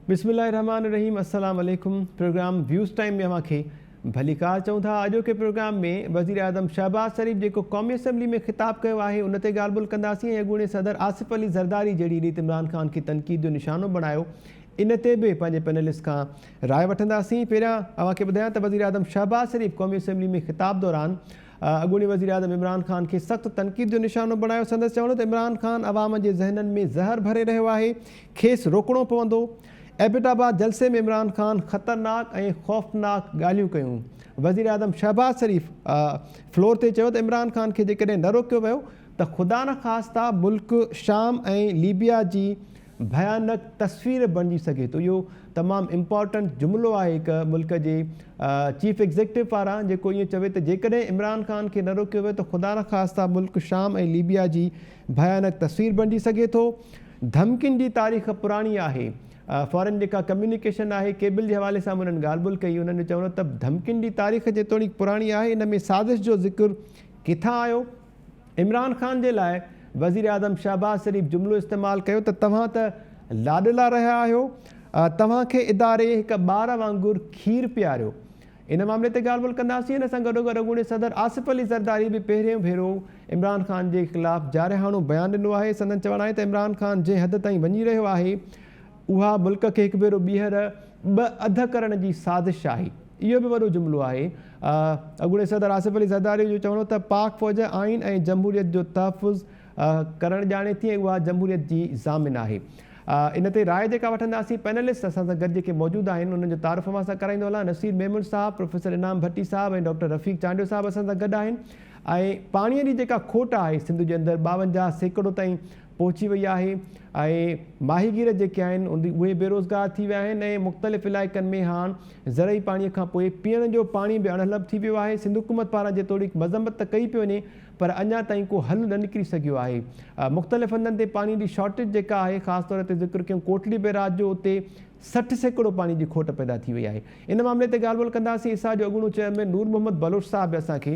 بسم الله الرحمٰن الرحيم السلام عليڪم پروگرام ويوز ٽائيم ۾ اوهان کي ڀليڪار چئون ٿا اڄوڪي پروگرام ۾ وزيراعظم شهباز شريف جيڪو قومي اسيمبلي ۾ خطاب ڪيو آهي ان تي ڳالهه ٻولهه ڪنداسين ۽ اڳوڻي صدر آصف علي زرداري جهڙي ريت عمران خان کي تنقيد جو نشانو بڻايو ان تي به پنهنجي پينلسٽ کان راء وٺنداسين پهريان اوهان کي ٻڌايان ته وزيراعظم شهباز شريف قومي اسيمبلي ۾ خطاب دوران اڳوڻي وزيراعظم عمران خان کي سخت تنقيد جو نشانو بڻايو، سندس چوڻ هو ته عمران خان عوام جي ذهنن ۾ زهر ڀري رهيو آهي، کيس روڪڻو پوندو. ايبٽ آباد جلسي ۾ عمران خان خطرناڪ ۽ خوفناڪ ڳالهيون ڪيون، وزيراعظم شهباز شريف فلور تي چيو ته عمران خان کي جيڪڏهن نه روڪيو ويو ته خدا نخواسته ملڪ شام ۽ ليبيا جي ڀيانڪ تصوير بڻجي سگهي ٿو. اهو تمام امپارٽنٽ جملو آهي هڪ ملڪ جي چيف ايگزيڪٽو پاران جيڪو ائين چوي ته جيڪڏهن عمران خان کي نه روڪيو ويو ته خدا نخواسته ملڪ شام ۽ ليبيا جي ڀيانڪ تصوير بڻجي سگهي ٿو. ڌمڪين جي تاريخ پراڻي آهي. فارين جيڪا ڪميونيڪيشن آهي ڪيبل جي حوالي سان به انهن ڳالهه ٻولهه ڪئي. انهن جو چوڻ هو ته ڌمڪين جي تاريخ جيتوڻيڪ پراڻي آهي ان ۾ سازش جو ذڪر ڪٿان آيو؟ عمران خان جي لاء وزيراعظم شهباز شريف جملو استعمال ڪيو ته توهان ته لاڏلا رهيا آهيو، توهان کي اداري هڪ ٻار وانگر کير پياريو. ان معاملي تي ڳالهه ٻولهه ڪنداسين، ان سان گڏوگڏ اڳوڻي صدر آصف علي زرداري به پهريون ڀيرو عمران خان جي خلاف جارحاڻو بيان ڏنو آهي، سندن چوڻ آهي ته عمران خان جنهن حد تائين وڃي رهيو آهي اها ملڪ کي هڪ ڀيرو ٻيهر ٻه اڌ ڪرڻ جي سازش آهي. اهو به وڏو جملو آهي. اڳوڻي صدر آصف علي زرداري جو چوڻ هو ته پاڪ فوج آئين ۽ جمهوريت جو تحفظ ڪرڻ ڄاڻي ٿي ۽ اها جمهوريت جي ضامن آهي. ان تي راء جيڪا وٺنداسين پينلسٽ اسان سان گڏ جيڪي موجود آهن انهن جو تعارف اوهان سان ڪرائيندو هلان نصير ميمڻ صاحب، پروفيسر انعام ڀٽي صاحب ۽ ڊاڪٽر رفيق چانڊيو صاحب اسان سان گڏ آهن ۽ پاڻي جي جيڪا کوٽ آهي سنڌ جي اندر ٻاونجاهه سيڪڙو تائين پهچي وئي آهي ۽ ماهيگير جيڪي آهن اهي بيروزگار ٿي ويا آهن ۽ مختلف علائقن ۾ هاڻ زرعي پاڻي کان پوء پيئڻ جو پاڻي به اڻهلڀ ٿي ويو آهي سنڌ حڪومت پاران جيتوڻيڪ مذمت ته ڪئي پئي وڃي پر اڃا تائين ڪو حل نه نڪري سگهيو آهي مختلف هنڌن تي پاڻي جي شارٽيج جيڪا آهي خاص طور تي ذڪر ڪيون ڪوٽڙي بيراج جو اتي سٺ سيڪڙو پاڻي جي کوٽ پيدا ٿي وئي آهي ان معاملي تي ڳالهه ٻولهه ڪنداسين ايسا جو اڳوڻو چيئرمين نور محمد بلوچ صاحب به اسان کي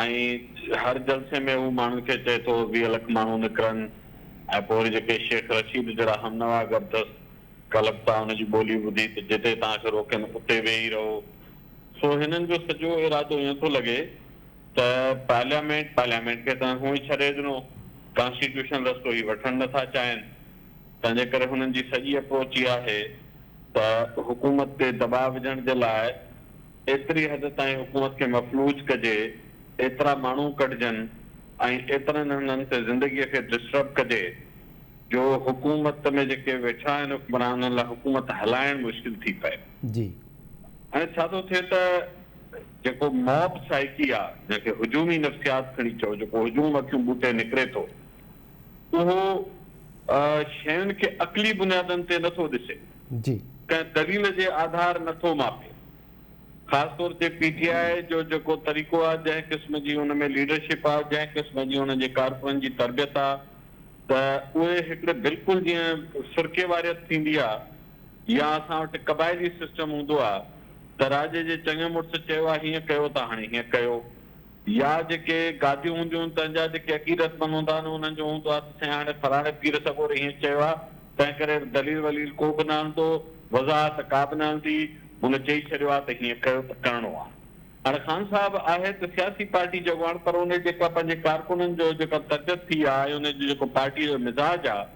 ۽ هر جلسي ۾ هو ماڻهن کي چئي ٿو ويهه لک ماڻهو نڪرن ۽ پوء وري جيڪي شيخ رشيد جهڙا همنوا اگر دست ڪلڪتا ان جي ٻولي ٻڌي ته جتي توهان کي روڪين اتي ويهي رهو سو هنن جو سڄو ارادو ائين ٿو لڳي ته پارليامينٽ پارليامينٽ کي تنهن هونئن ڇڏي ڏنو ڪانسٽيٽيوشن رستو هي وٺڻ نه ٿا چاهين تنهن جي ڪري هنن جي سڄي اپروچ اها آهي ته حڪومت تي دٻاء وجهڻ جي لاء ايتري حد تائين حڪومت کي مفلوج ڪجي، ايترا ماڻهو ڪڍجن ۽ ايترن هنڌن تي زندگيء کي ڊسٽرب ڪجي جو حڪومت ۾ جيڪي ويٺا آهن حڪمران انهن لاء حڪومت هلائڻ مشڪل ٿي پئي. جي. هاڻي ڇا ٿو ٿئي ته جيڪو موب سائيڪي آ جنهن کي هجومي نفسيات کڻي چئو جيڪو هجوم اکيون ٻوٽي نڪري ٿو اهو شين کي عقلي بنيادن تي نه ٿو ڏسي. جي. ڪنهن دليل جي آڌار نه ٿو ماپي خاص طور تي پي ٽي آء جو جيڪو طريقو آ جنهن قسم جي ان ۾ ليڊرشپ آ جنهن قسم جي انهن جي ڪارڪنن جي تربيت آ ته اهي هڪڙي بلڪل جيئن فرقي واريت ٿيندي آ يا اسان وٽ قبائلي سسٽم هوندو آ ته راڄي جي چڱي مڙس چيو آ هيئن ڪيو ته هاڻي هيئن ڪيو يا جيڪي گاديون هونديون تنهن جا جيڪي عقيدتمند هوندا آهن انهن جو هوندو آهي ته سائين هاڻي فلاڻي پير سڳوري هيئن چيو آهي تنهن ڪري دليل وليل ڪو به نه هلندو وضاحت ڪا به نه هلندي هن چئي ڇڏيو آهي ته هيئن ڪيو ته ڪرڻو آهي. هاڻي خان صاحب آهي ته سياسي پارٽي جو اڳواڻ پر ان جيڪا پنهنجي ڪارڪنن جو جيڪا تربيت ٿي آهي ۽ ان جو جيڪو پارٽيء جو مزاج آهي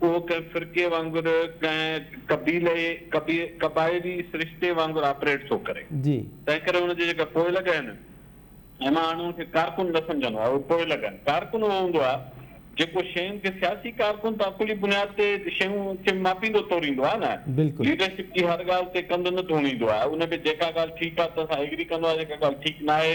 اهو ڪنهن فرقي وانگر، ڪنهن قبيلي، قبائلي سرشتي وانگر آپريٽ ٿو ڪري. تنهن ڪري ان جي جيڪا پوئلڳ آهي نه، مان هاڻي ان کي ڪارڪن نه سمجهندو آهيان، اهي پوئلڳ آهن. ڪارڪن اهو هوندو آهي، جيڪو شين کي سياسي ڪارڪن ته عقلي بنياد تي شين کي ماپيندو توريندو آهي نه، ليڊرشپ جي هر ڳالهه تي ڪنڌ نه ڌوڻيندو آهي، ان ۾ جيڪا ڳالهه ٺيڪ آهي، تنهن سان ايگري ڪندو آهي، جيڪا ڳالهه ٺيڪ ناهي،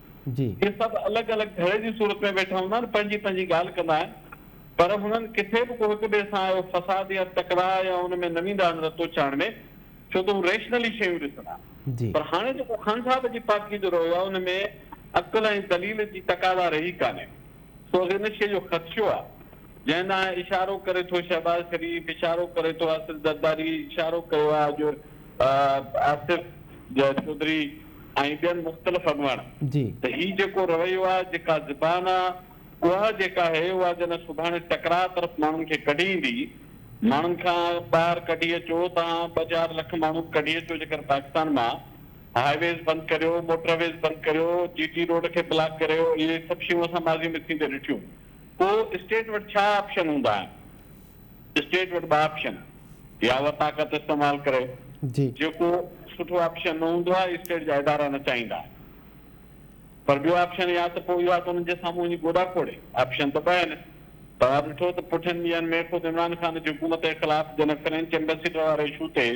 جي. جي سڀ الڳ الڳ ڌڙي جي صورت ۾ ويٺا هوندا آهن پنهنجي پنهنجي ڳالهه ڪندا آهن پر هنن ڪٿي به ڪو هڪ ٻئي سان اهو فساد يا تڪراء يا ان ۾ نه ويندا آهن رتو چاڙهه ۾ ڇو ته هو ريشنلي شيون ڏسندا جي. پر هاڻي جيڪو خان صاحب جي پارٽي جو رويو آهي ان ۾ عقل ۽ دليل جي تقاضا رهي ڪانهي سو ان شيء جو خدشو آهي جنهن ڏانهن اشارو ڪري ٿو شهباز شريف، اشارو ڪري ٿو آصف زرداري، اشارو ڪيو آهي اڄ آصف چوڌري ۽ ٻين مختلف اڳواڻن ته هي جيڪو رويو آهي، جيڪا زبان آهي، اها جيڪا هي اها جڏهن سڀاڻي ٽڪراء طرف ماڻهن کي ڪڍي ايندي، ماڻهن کان ٻاهر ڪڍي اچو، توهان ٻه چار لک ماڻهو ڪڍي اچو جيڪر پاڪستان مان، هاء ويز بند ڪريو، موٽر ويز بند ڪريو، جي ٽي روڊ کي بلاڪ ڪريو، اهي سڀ شيون اسان ماضي ۾ ٿيندي ڏٺيون. پوء اسٽيٽ وٽ ڇا آپشن هوندا آهن؟ اسٽيٽ وٽ ٻه آپشن يا اها طاقت استعمال ڪري. جيڪو سٺو آپشن نه هوندو آهي اسٽيٽ جا ادارا نه چاهيندا آهن پر ٻيو آپشن يا ته پوء اهو آهي ته انهن جي سامهون وڃي گوڏا کوڙي. آپشن ته ٻه آهن. توهان ڏٺو ته پٺين ڏينهن ۾ خود عمران خان جي حڪومت جي خلاف جنهن فرينچ ايمبيسيڊر واري اشو تي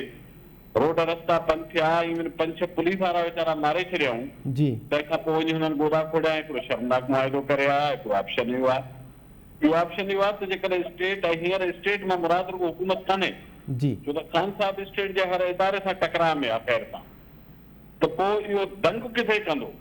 روڊ رستا بند ٿيا ايون پنج ڇهه پوليس وارا ويچارا ماري ڇڏيائون تنهن کان پوء وڃي هنن گوڏا کوڙيا ۽ هڪڙو شرمناڪ معاهدو ڪري آيا هڪڙو آپشن اهو آهي ٻيو آپشن اهو آهي ته جيڪڏهن اسٽيٽ ۽ هينئر اسٽيٽ مان مراد رڳو حڪومت ڪانهي ڇو ته خان صاحب اسٽيٽ جي هر اداري سان ٽڪراء ۾ آهي خير سان ته پوء اهو دنگ ڪٿي ڪندو.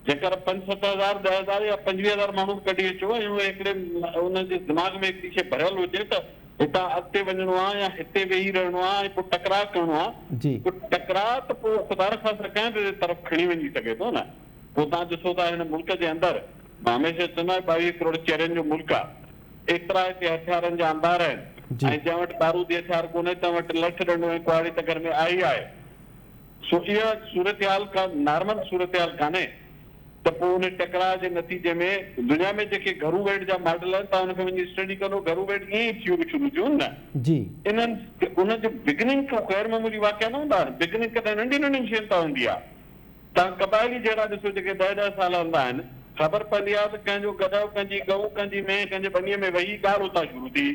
جيڪر پنج ست هزار، ڏهه هزار يا پنجويهه هزار ماڻهو ڪڍي اچو ۽ اهي هڪڙي ان جي دماغ ۾ هڪڙي شيء ڀريل هجي ته هتان اڳتي وڃڻو آ يا هتي ويهي رهڻو آ ۽ پوء ٽڪراء ڪرڻو آ پوء ٽڪراء ته پوء خدا نخواسته ڪنهن به طرف کڻي وڃي سگهي ٿو نه پوء توهان ڏسو ٿا هن ملڪ جي اندر مان هميشه چوندو آهيان ٻاويهه ڪروڙ چيرين جو ملڪ آ ايترا هتي هٿيارن جا انبار آهن ۽ جنهن وٽ بارودي هٿيار ڪونهي تنهن وٽ لٺ ڏنڊو ۽ ڪهاڙي ته گهر ۾ آهي آهي سو اها صورتحال ڪا نارمل صورتحال ڪانهي ته پوء ان ٽڪراء جي نتيجي ۾ دنيا ۾ جيڪي گهرو ويڙهه جا ماڊل آهن تان ان کي وڃي اسٽڊي ڪندو گهرو ويڙهه ائين ئي ٿيون شروع ٿيون نه انهن انهن جي بگننگ ڪو غير معمولي واقعا نه هوندا آهن بگننگ ڪڏهن ننڍي ننڍين شين تان هوندي آهي تان قبائلي جهيڙا ڏسو جيڪي ڏهه ڏهه سال هلندا آهن خبر پوندي آهي ته ڪنهن جو گڏهه ڪنهن جي ڳئو ڪنهن جي مينهن ڪنهن جي ٻنيء ۾ وهي ڳالهه اتان شروع ٿي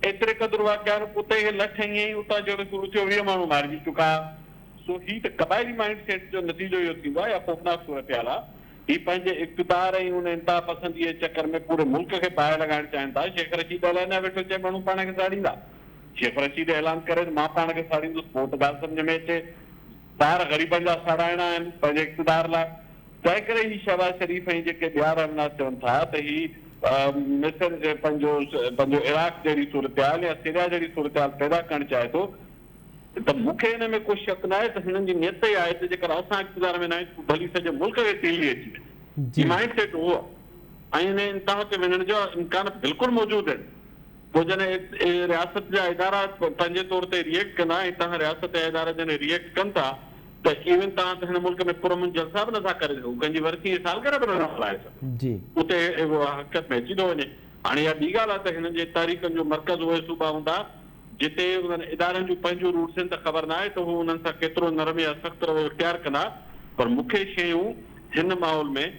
ايتري قدر واقعا رخ اتي ئي لٺ هنئي ۽ اتان جهڙو ته لکيو ويهه ماڻهو مارجي چڪا. سو هي ته قبائلي مائينڊ سيٽ جو نتيجو اهو ٿيندو آهي يا خوفناڪ صورتحال آهي. هي پنهنجي اقتدار ۽ ان انتها پسنديء جي چڪر ۾ پوري ملڪ کي باهه لڳائڻ چاهين ٿا. شيخ رشيد اعلان ڏيا ويٺو چئي ماڻهو پاڻ کي ساڙيندا. شيخ رشيد اعلان ڪري ته مان پاڻ کي ساڙيندس پوء ته ڳالهه سمجهه ۾ اچي. ٻار غريبن جا ساڙائڻا آهن پنهنجي اقتدار لاء. تنهنڪري هي شهباز شريف ۽ جيڪي ٻيا رهنما چون ٿا ته هي مصر جي پنهنجو پنهنجو عراق جهڙي صورتحال يا سريا جهڙي صورتحال پيدا ڪرڻ چاهي ٿو ته مون کي ان ۾ ڪو شڪ ناهي ته هنن جي نيت اها آهي ته جيڪر اسان اقتدار ۾ نه آهيون ته پوء ڀلي سڄي ملڪ کي تيلي اچي وڃي. هي مائنڊ سيٽ اهو آهي ۽ ان انتها تي وڃڻ جا امڪان بلڪل موجود آهن. پوء جڏهن هي رياست جا ادارا پنهنجي طور تي ري ايڪٽ ڪندا ۽ تهان رياست جا ادارا جڏهن ري ايڪٽ ڪن ٿا ته ايون تهان ته هن ملڪ ۾ پرامن جلسا به نه ٿا ڪري سگهو ڪنهن جي ورسي ۽ سالگرهه به نه ٿا ملهائي سگهو اتي اهو حقيقت ۾ اچي ٿو وڃي هاڻي اها ٻي ڳالهه آهي ته هنن جي تحريڪن جو مرڪز اهي صوبا هوندا جتي انهن ادارن جون پنهنجون روٽس آهن ته خبر ناهي ته هو انهن سان ڪيترو نرم يا سخت رويو اختيار ڪندا پر مون کي شيون هن ماحول ۾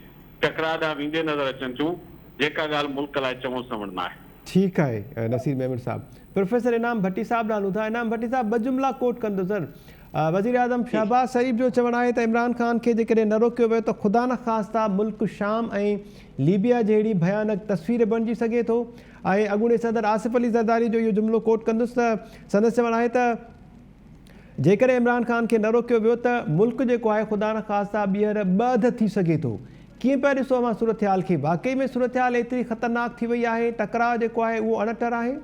ٽڪراء ڏانهن ويندي نظر اچن ٿيون جيڪا ڳالهه ملڪ لاء چوڻ سوڻ ناهي. ٺيڪ آهي نصير ميمڻ صاحب. پروفيسر انعام ڀٽي صاحب ڏانهن هلون ٿا. انعام ڀٽي صاحب ٻه جملا ڪوٽ ڪندو سر. وزيراعظم شهباز شريف جو چوڻ آهي ته عمران خان کي جيڪڏهن نه روڪيو ويو ته خدا نخواسته ملڪ شام ۽ ليبيا جهڙي ڀيانڪ تصوير بڻجي سگهي ٿو ۽ اڳوڻي صدر آصف علي زرداري جو اهو جملو ڪوٽ ڪندس ته سندس چوڻ آهي ته جيڪڏهن عمران خان کي نه روڪيو ويو ته ملڪ جيڪو آهي خدا نه خاصا ٻيهر ٻه اڌ ٿي سگهي ٿو. ڪيئن پيا ڏسو اوهان صورتحال کي؟ واقعي ۾ صورتحال ايتري خطرناڪ ٿي وئي آهي، ٽڪراء جيڪو آهي اهو اڻٽر آهي.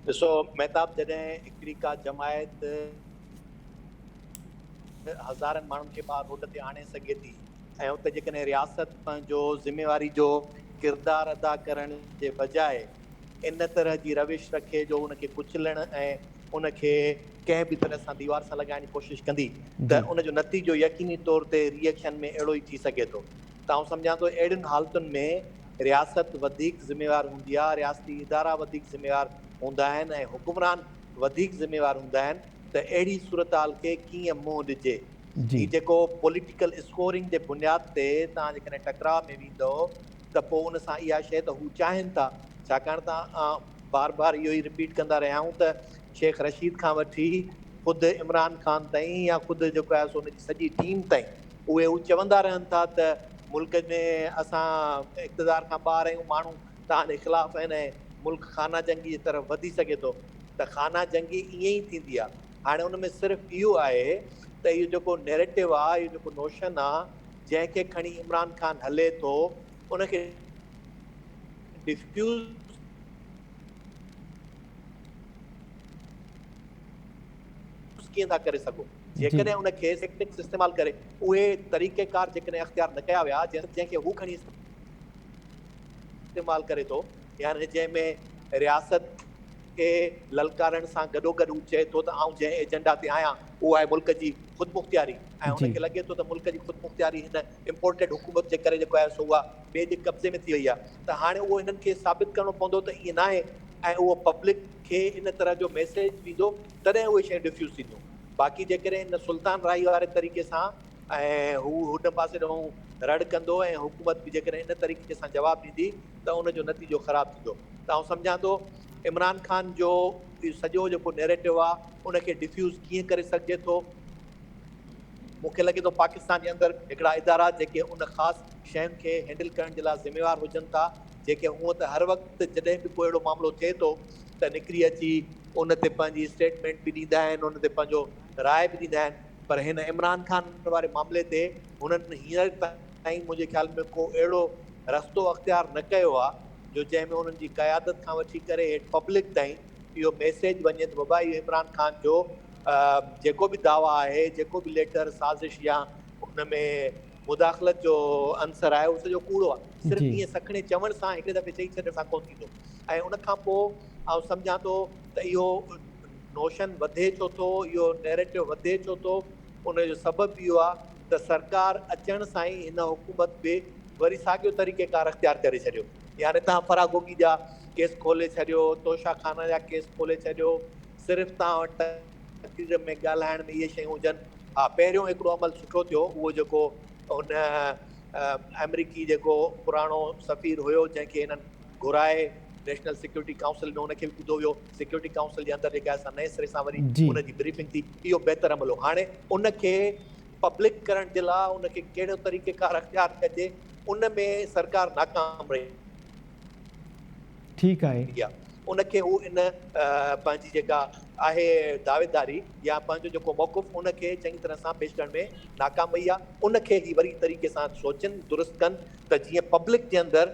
ڏسو مهتاب جڏهن هڪڙي ڪا جماعت هزارن ماڻهن کي ٻاهر روڊ تي آڻي سگهي ٿي ۽ اتي جيڪڏهن رياست پنهنجو ذميواري جو ڪردار ادا ڪرڻ جي بجاء ان طرح جي روش رکي جو ان کي ڪچلڻ ۽ ان کي ڪنهن به طرح سان ديوار سان لڳائڻ جي ڪوشش ڪندي ته ان جو نتيجو يقيني طور تي ري ايڪشن ۾ اهڙو ئي ٿي سگهي ٿو ته آئون سمجهان ٿو اهڙين حالتن ۾ رياست وڌيڪ ذميوار هوندي آهي رياستي ادارا وڌيڪ ذميوار هوندا آهن ۽ حڪمران وڌيڪ ذميوار هوندا آهن ته اهڙي صورتحال کي ڪيئن منهن ڏجي هي جيڪو پوليٽيڪل اسڪورنگ جي بنياد تي توهان جيڪڏهن ٽڪراء ۾ ويندؤ ته پوء ان سان اها شيء ته هو چاهين ٿا، ڇاڪاڻ ته آئون بار بار اهو ئي رپيٽ ڪندا رهيا آهيون ته شيخ رشيد کان وٺي خود عمران خان تائين يا خود جيڪو آهي سو ان جي سڄي ٽيم تائين اهي هو چوندا رهن ٿا ته ملڪ ۾ اسان اقتدار کان ٻاهر آهيون، ماڻهو توهان جي خلاف آهن ۽ ملڪ خانه جنگي جي طرف وڌي سگهي ٿو ته خانه جنگي ائين ئي ٿيندي آهي. هاڻي ان ۾ صرف اهو آهي ته اهو جيڪو نيريٽو آهي، اهو جيڪو نوشن آهي، جنهن کي کڻي عمران خان هلي ٿو ان کي ڊفيوز ڪيئن ٿا ڪري سگهو جيڪڏهن ان کي ٽيڪٽڪس استعمال ڪري اهي طريقه ڪار جيڪڏهن اختيار نه ڪيا ويا جنهن کي هو کڻي استعمال ڪري ٿو يعني جنهن ۾ رياست کي للڪارڻ سان گڏوگڏ هو چئي ٿو ته آئون جنهن ايجنڊا تي آهيان اهو آهي ملڪ جي خودمختياري ۽ هن کي لڳي ٿو ته ملڪ جي خودمختياري هن امپورٽيڊ حڪومت جي ڪري جيڪو آهي سو اها ٻئي جي قبضي ۾ ٿي وئي آهي ته هاڻي اهو هنن کي ثابت ڪرڻو پوندو ته ائين ناهي ۽ اهو پبلڪ کي ان طرح جو ميسيج ويندو تڏهن اهي شيون ڊفيوز ٿينديون باقي جيڪڏهن هن سلطان راهي واري طريقي سان ۽ هو هن پاسي ڏانهن رڙ ڪندو ۽ حڪومت به جيڪڏهن ان طريقي سان جواب ڏيندي ته ان جو نتيجو خراب ٿيندو ته آئون سمجهان ٿو عمران خان جو اهو سڄو جيڪو نيريٽو آ ان کي ڊفيوز ڪيئن ڪري سگهجي ٿو مون کي لڳي ٿو پاڪستان جي اندر هڪڙا ادارا جيڪي ان خاص شين کي هينڊل ڪرڻ جي لاء ذميوار هجن ٿا جيڪي هونء ته هر وقت جڏهن به ڪو اهڙو معاملو ٿئي ٿو ته نڪري اچي ان تي پنهنجي اسٽيٽمينٽ به ڏيندا آهن ان تي پنهنجو راء به ڏيندا آهن پر هن عمران خان واري معاملي تي هنن هينئر تائين منهنجي خيال ۾ ڪو اهڙو رستو اختيار نه ڪيو آهي جو جنهن ۾ انهن جي قيادت کان وٺي ڪري هيٺ پبلڪ تائين اهو ميسيج وڃي ته بابا اهو عمران خان جو جيڪو به دعويٰ آهي جيڪو به ليٽر سازش يا ان ۾ مداخلت جو عنصر آهي اهو سڄو ڪوڙو آهي صرف ائين سکڻي چوڻ سان هڪڙي دفعي چئي ڇڏڻ سان ڪونه ٿيندو ۽ ان کان پوء آئون سمجهان ٿو ته اهو نوشن وڌي ڇو ٿو، اهو نيريٽو وڌي ڇو ٿو، ان جو سبب اهو آهي ته سرڪار اچڻ سان ئي هن حڪومت به وري ساڳيو طريقيڪار اختيار ڪري ڇڏيو. يعني تهان فراگوگي جا ڪيس کولي ڇڏيو، توشه خانه جا ڪيس کولي ڇڏيو، صرف تهان وٽ تقرير ۾ ڳالهائڻ ۾ اهي شيون هجن. ها پهريون هڪڙو عمل سٺو ٿيو، اهو جيڪو هن آمريڪي جيڪو پراڻو سفير هيو جنهن کي هنن. گهرائي، نيشنل سيڪيورٽي ڪائونسل ۾ ان کي به ٻڌو ويو، سيڪيورٽي ڪائونسل جي اندر جيڪا اسان نئين سري سان وري ان جي بريفنگ ٿي، اهو بهتر عمل هو، هاڻي ان کي پبلڪ ڪرڻ جي لاء ان کي ڪهڙو طريقيڪار اختيار ڪجي ان ۾ سرڪار ناڪام رهي. ٺيڪ آهي. ان کي هو ان پنهنجي جيڪا آهي دعويداري يا پنهنجو جيڪو موقف ان کي چڱي طرح سان پيش ڪرڻ ۾ ناڪام رهي آهي، ان کي هي وري طريقي سان سوچن درست ڪن ته جيئن پبلڪ جي اندر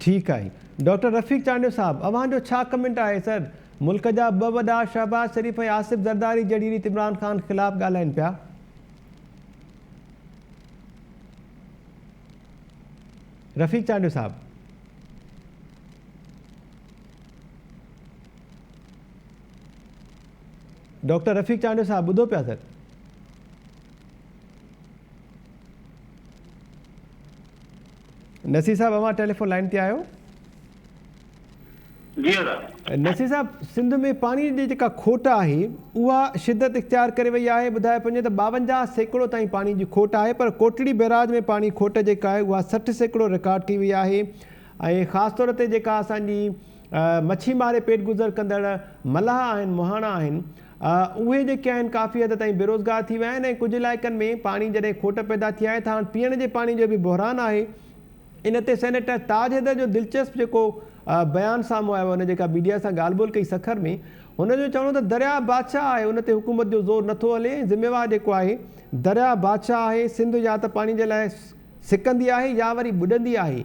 ٺيڪ آهي ڊاڪٽر رفيق چانڊيو صاحب اوهان جو ڇا ڪمينٽ آهي سر ملڪ جا ٻه وڏا شهباز شريف ۽ آصف زرداري جهڙي ريت عمران خان خلاف ڳالهائين پيا. رفيق چانڊيو صاحب. ڊاڪٽر رفيق چانڊيو صاحب ٻڌو پيا سر. نصير صاحب اوهان ٽيليفون لائين تي آهيو. جي ادا. نصير صاحب سنڌ ۾ پاڻي جي جيڪا کوٽ آهي اها شدت اختيار ڪري وئي آهي ٻڌايو پڃي ته ٻاونجاهه سيڪڙو تائين پاڻي جي کوٽ آهي پر ڪوٽڙي بئراج ۾ پاڻي کوٽ جيڪا آهي اها سٺ سيڪڙو رڪارڊ ٿي وئي آهي ۽ خاص طور تي جيڪا اسان جي مڇي ماري پيٽ گذر ڪندڙ ملاح آهن، مهاڻا آهن. اهي جيڪي آهن ڪافي حد تائين بيروزگار ٿي ويا آهن ۽ ڪجهه علائقن ۾ پاڻي جڏهن کوٽ پيدا ٿي آهي ته هاڻ پيئڻ جي پاڻي جو به بحران آهي. ان تي سينيٽر تاج حيدر جو دلچسپ جيڪو بيان سامهون آيو آهي هن جيڪا ميڊيا سان ڳالهه ٻولهه ڪئي سکر ۾ هن جو چوڻ هو ته درياهه بادشاهه آهي ان تي حڪومت جو زور نه ٿو هلي ۽ ذميوار جيڪو آهي درياهه بادشاهه آهي سنڌ يا ته پاڻي جي لاء سڪندي آهي يا وري ٻڏندي آهي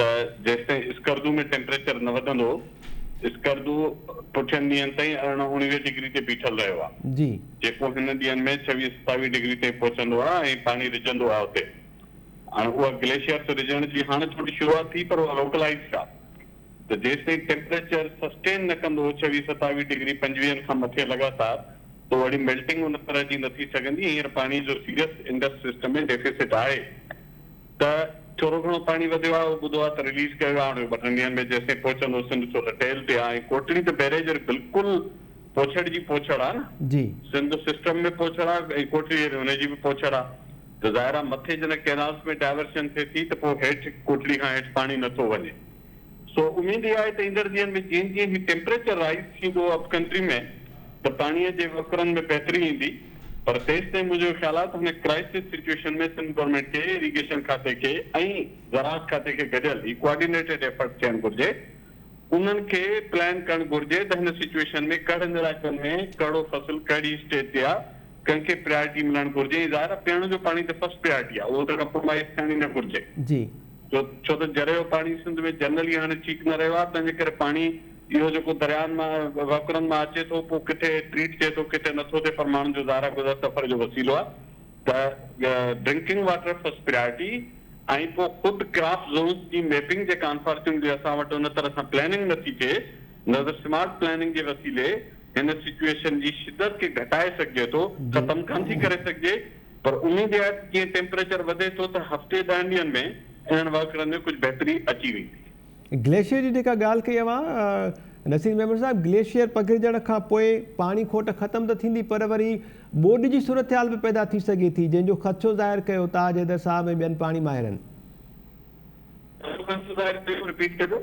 ته جيستائين اسڪردو ۾ ٽيمپريچر نه وڌندو، اسڪردو پٺين ڏينهن تائين ارڙهن اوڻويهه ڊگري تي بيٺل رهيو آ، جيڪو هن ڏينهن ۾ ڇويهه ستاويهه ڊگري تائين پهچندو آ ۽ پاڻي رجهندو آ اتي. هاڻ اها گليشيئرس رجهڻ جي هاڻ ٿوري شروعات ٿي پر اها لوڪلائيزڊ آ ته جيستائين ٽيمپريچر سسٽين نه ڪندو ڇويهه ستاويهه ڊگري پنجويهن کان مٿي لڳاتار تو اهڙي ميلٽنگ ان طرح جي نه ٿي سگهندي، هينئر پاڻي جو سيريس انڊس سسٽم ۾ ڊيفيسٽ آهي. ته ٿورو گهڻو پاڻي وڌيو آهي اهو ٻڌو آهي ته رليز ڪيو ويو آهي هاڻي ٻه ٽن ڏينهن ۾ جيستائين پهچندو سنڌ ڇو ته ٽيل تي آهي ۽ ڪوٽڙي ته بئريج بلڪل پوڇڙ جي پوڇڙ آهي نه جي. سنڌ سسٽم ۾ پوڇڙ آهي ۽ ڪوٽڙي اهڙي ان جي به پوڇڙ آهي ته ظاهر آهي مٿي جڏهن ڪينالز ۾ ڊائيورشن ٿئي ٿي ته پوء هيٺ ڪوٽڙي کان هيٺ پاڻي نٿو وڃي. سو اميد اها آهي ته ايندڙ ڏينهن ۾ جيئن جيئن هي ٽيمپريچر رائيز ٿيندو اپ ڪنٽري ۾ ته پاڻي جي وهڪرن ۾ بهتري ايندي پر تيستائين منهنجو خيال آهي ته هن ڪرائسز سچوئيشن ۾ سنڌ گورنمينٽ کي اريگيشن کاتي کي ۽ زراعت کاتي کي گڏيل هي ڪوآرڊينيٽيڊ ايفرٽ ٿيڻ گهرجي انهن کي پلان ڪرڻ گهرجي ته هن سچوئيشن ۾ ڪهڙن علائقن ۾ ڪهڙو فصل ڪهڙي اسٽيج تي آهي ڪنهن کي پريارٽي ملڻ گهرجي ۽ ظاهر آهي پيئڻ جو پاڻي ته فرسٽ پريارٽي آهي اهو ته ڪمپرومائيز ٿيڻ ئي نه گهرجي. جي. ڇو ته جري جو پاڻي سنڌ ۾ جنرل ئي هاڻي ٺيڪ نه رهيو آهي، تنهن جي ڪري پاڻي اهو جيڪو درياهن مان وهڪرن مان اچي ٿو، پوء ڪٿي ٽريٽ ٿئي ٿو، ڪٿي نه ٿو ٿئي، پر ماڻهن جو زارا گذر سفر جو وسيلو آهي ته ڊرنڪنگ واٽر فرسٽ پريارٽي ۽ پوء خود ڪراپ زونز جي ميپنگ جي ڪانفارچونيٽلي اسان وٽ ان طرح سان پلاننگ نه ٿي ٿئي، نظر سمارٽ پلاننگ جي وسيلي هن سچوئيشن جي شدت کي گهٽائي سگهجي ٿو، ختم ڪانٿي ڪري سگهجي. پر اميد اها آهي ته جيئن ٽيمپريچر وڌي ٿو ته هفتي ڏهن ڏينهن ۾ انهن واڪرن ۾ ڪجهه بهتري اچي ويندي. گليشيئر جي جيڪا ڳالهه ڪئي اوهان نصير ميمڻ صاحب گليشيئر پگهرجڻ کان پوء پاڻي کوٽ ختم ته ٿيندي پر وري ٻوڏ جي صورتحال به پيدا ٿي سگهي ٿي جنهن جو خدشو ظاهر ڪيو تاج حيدر صاحب ۽ ٻين پاڻي ماهرن. ڪهڙو خدشو ظاهر ڪيو رپيٽ ڪجو.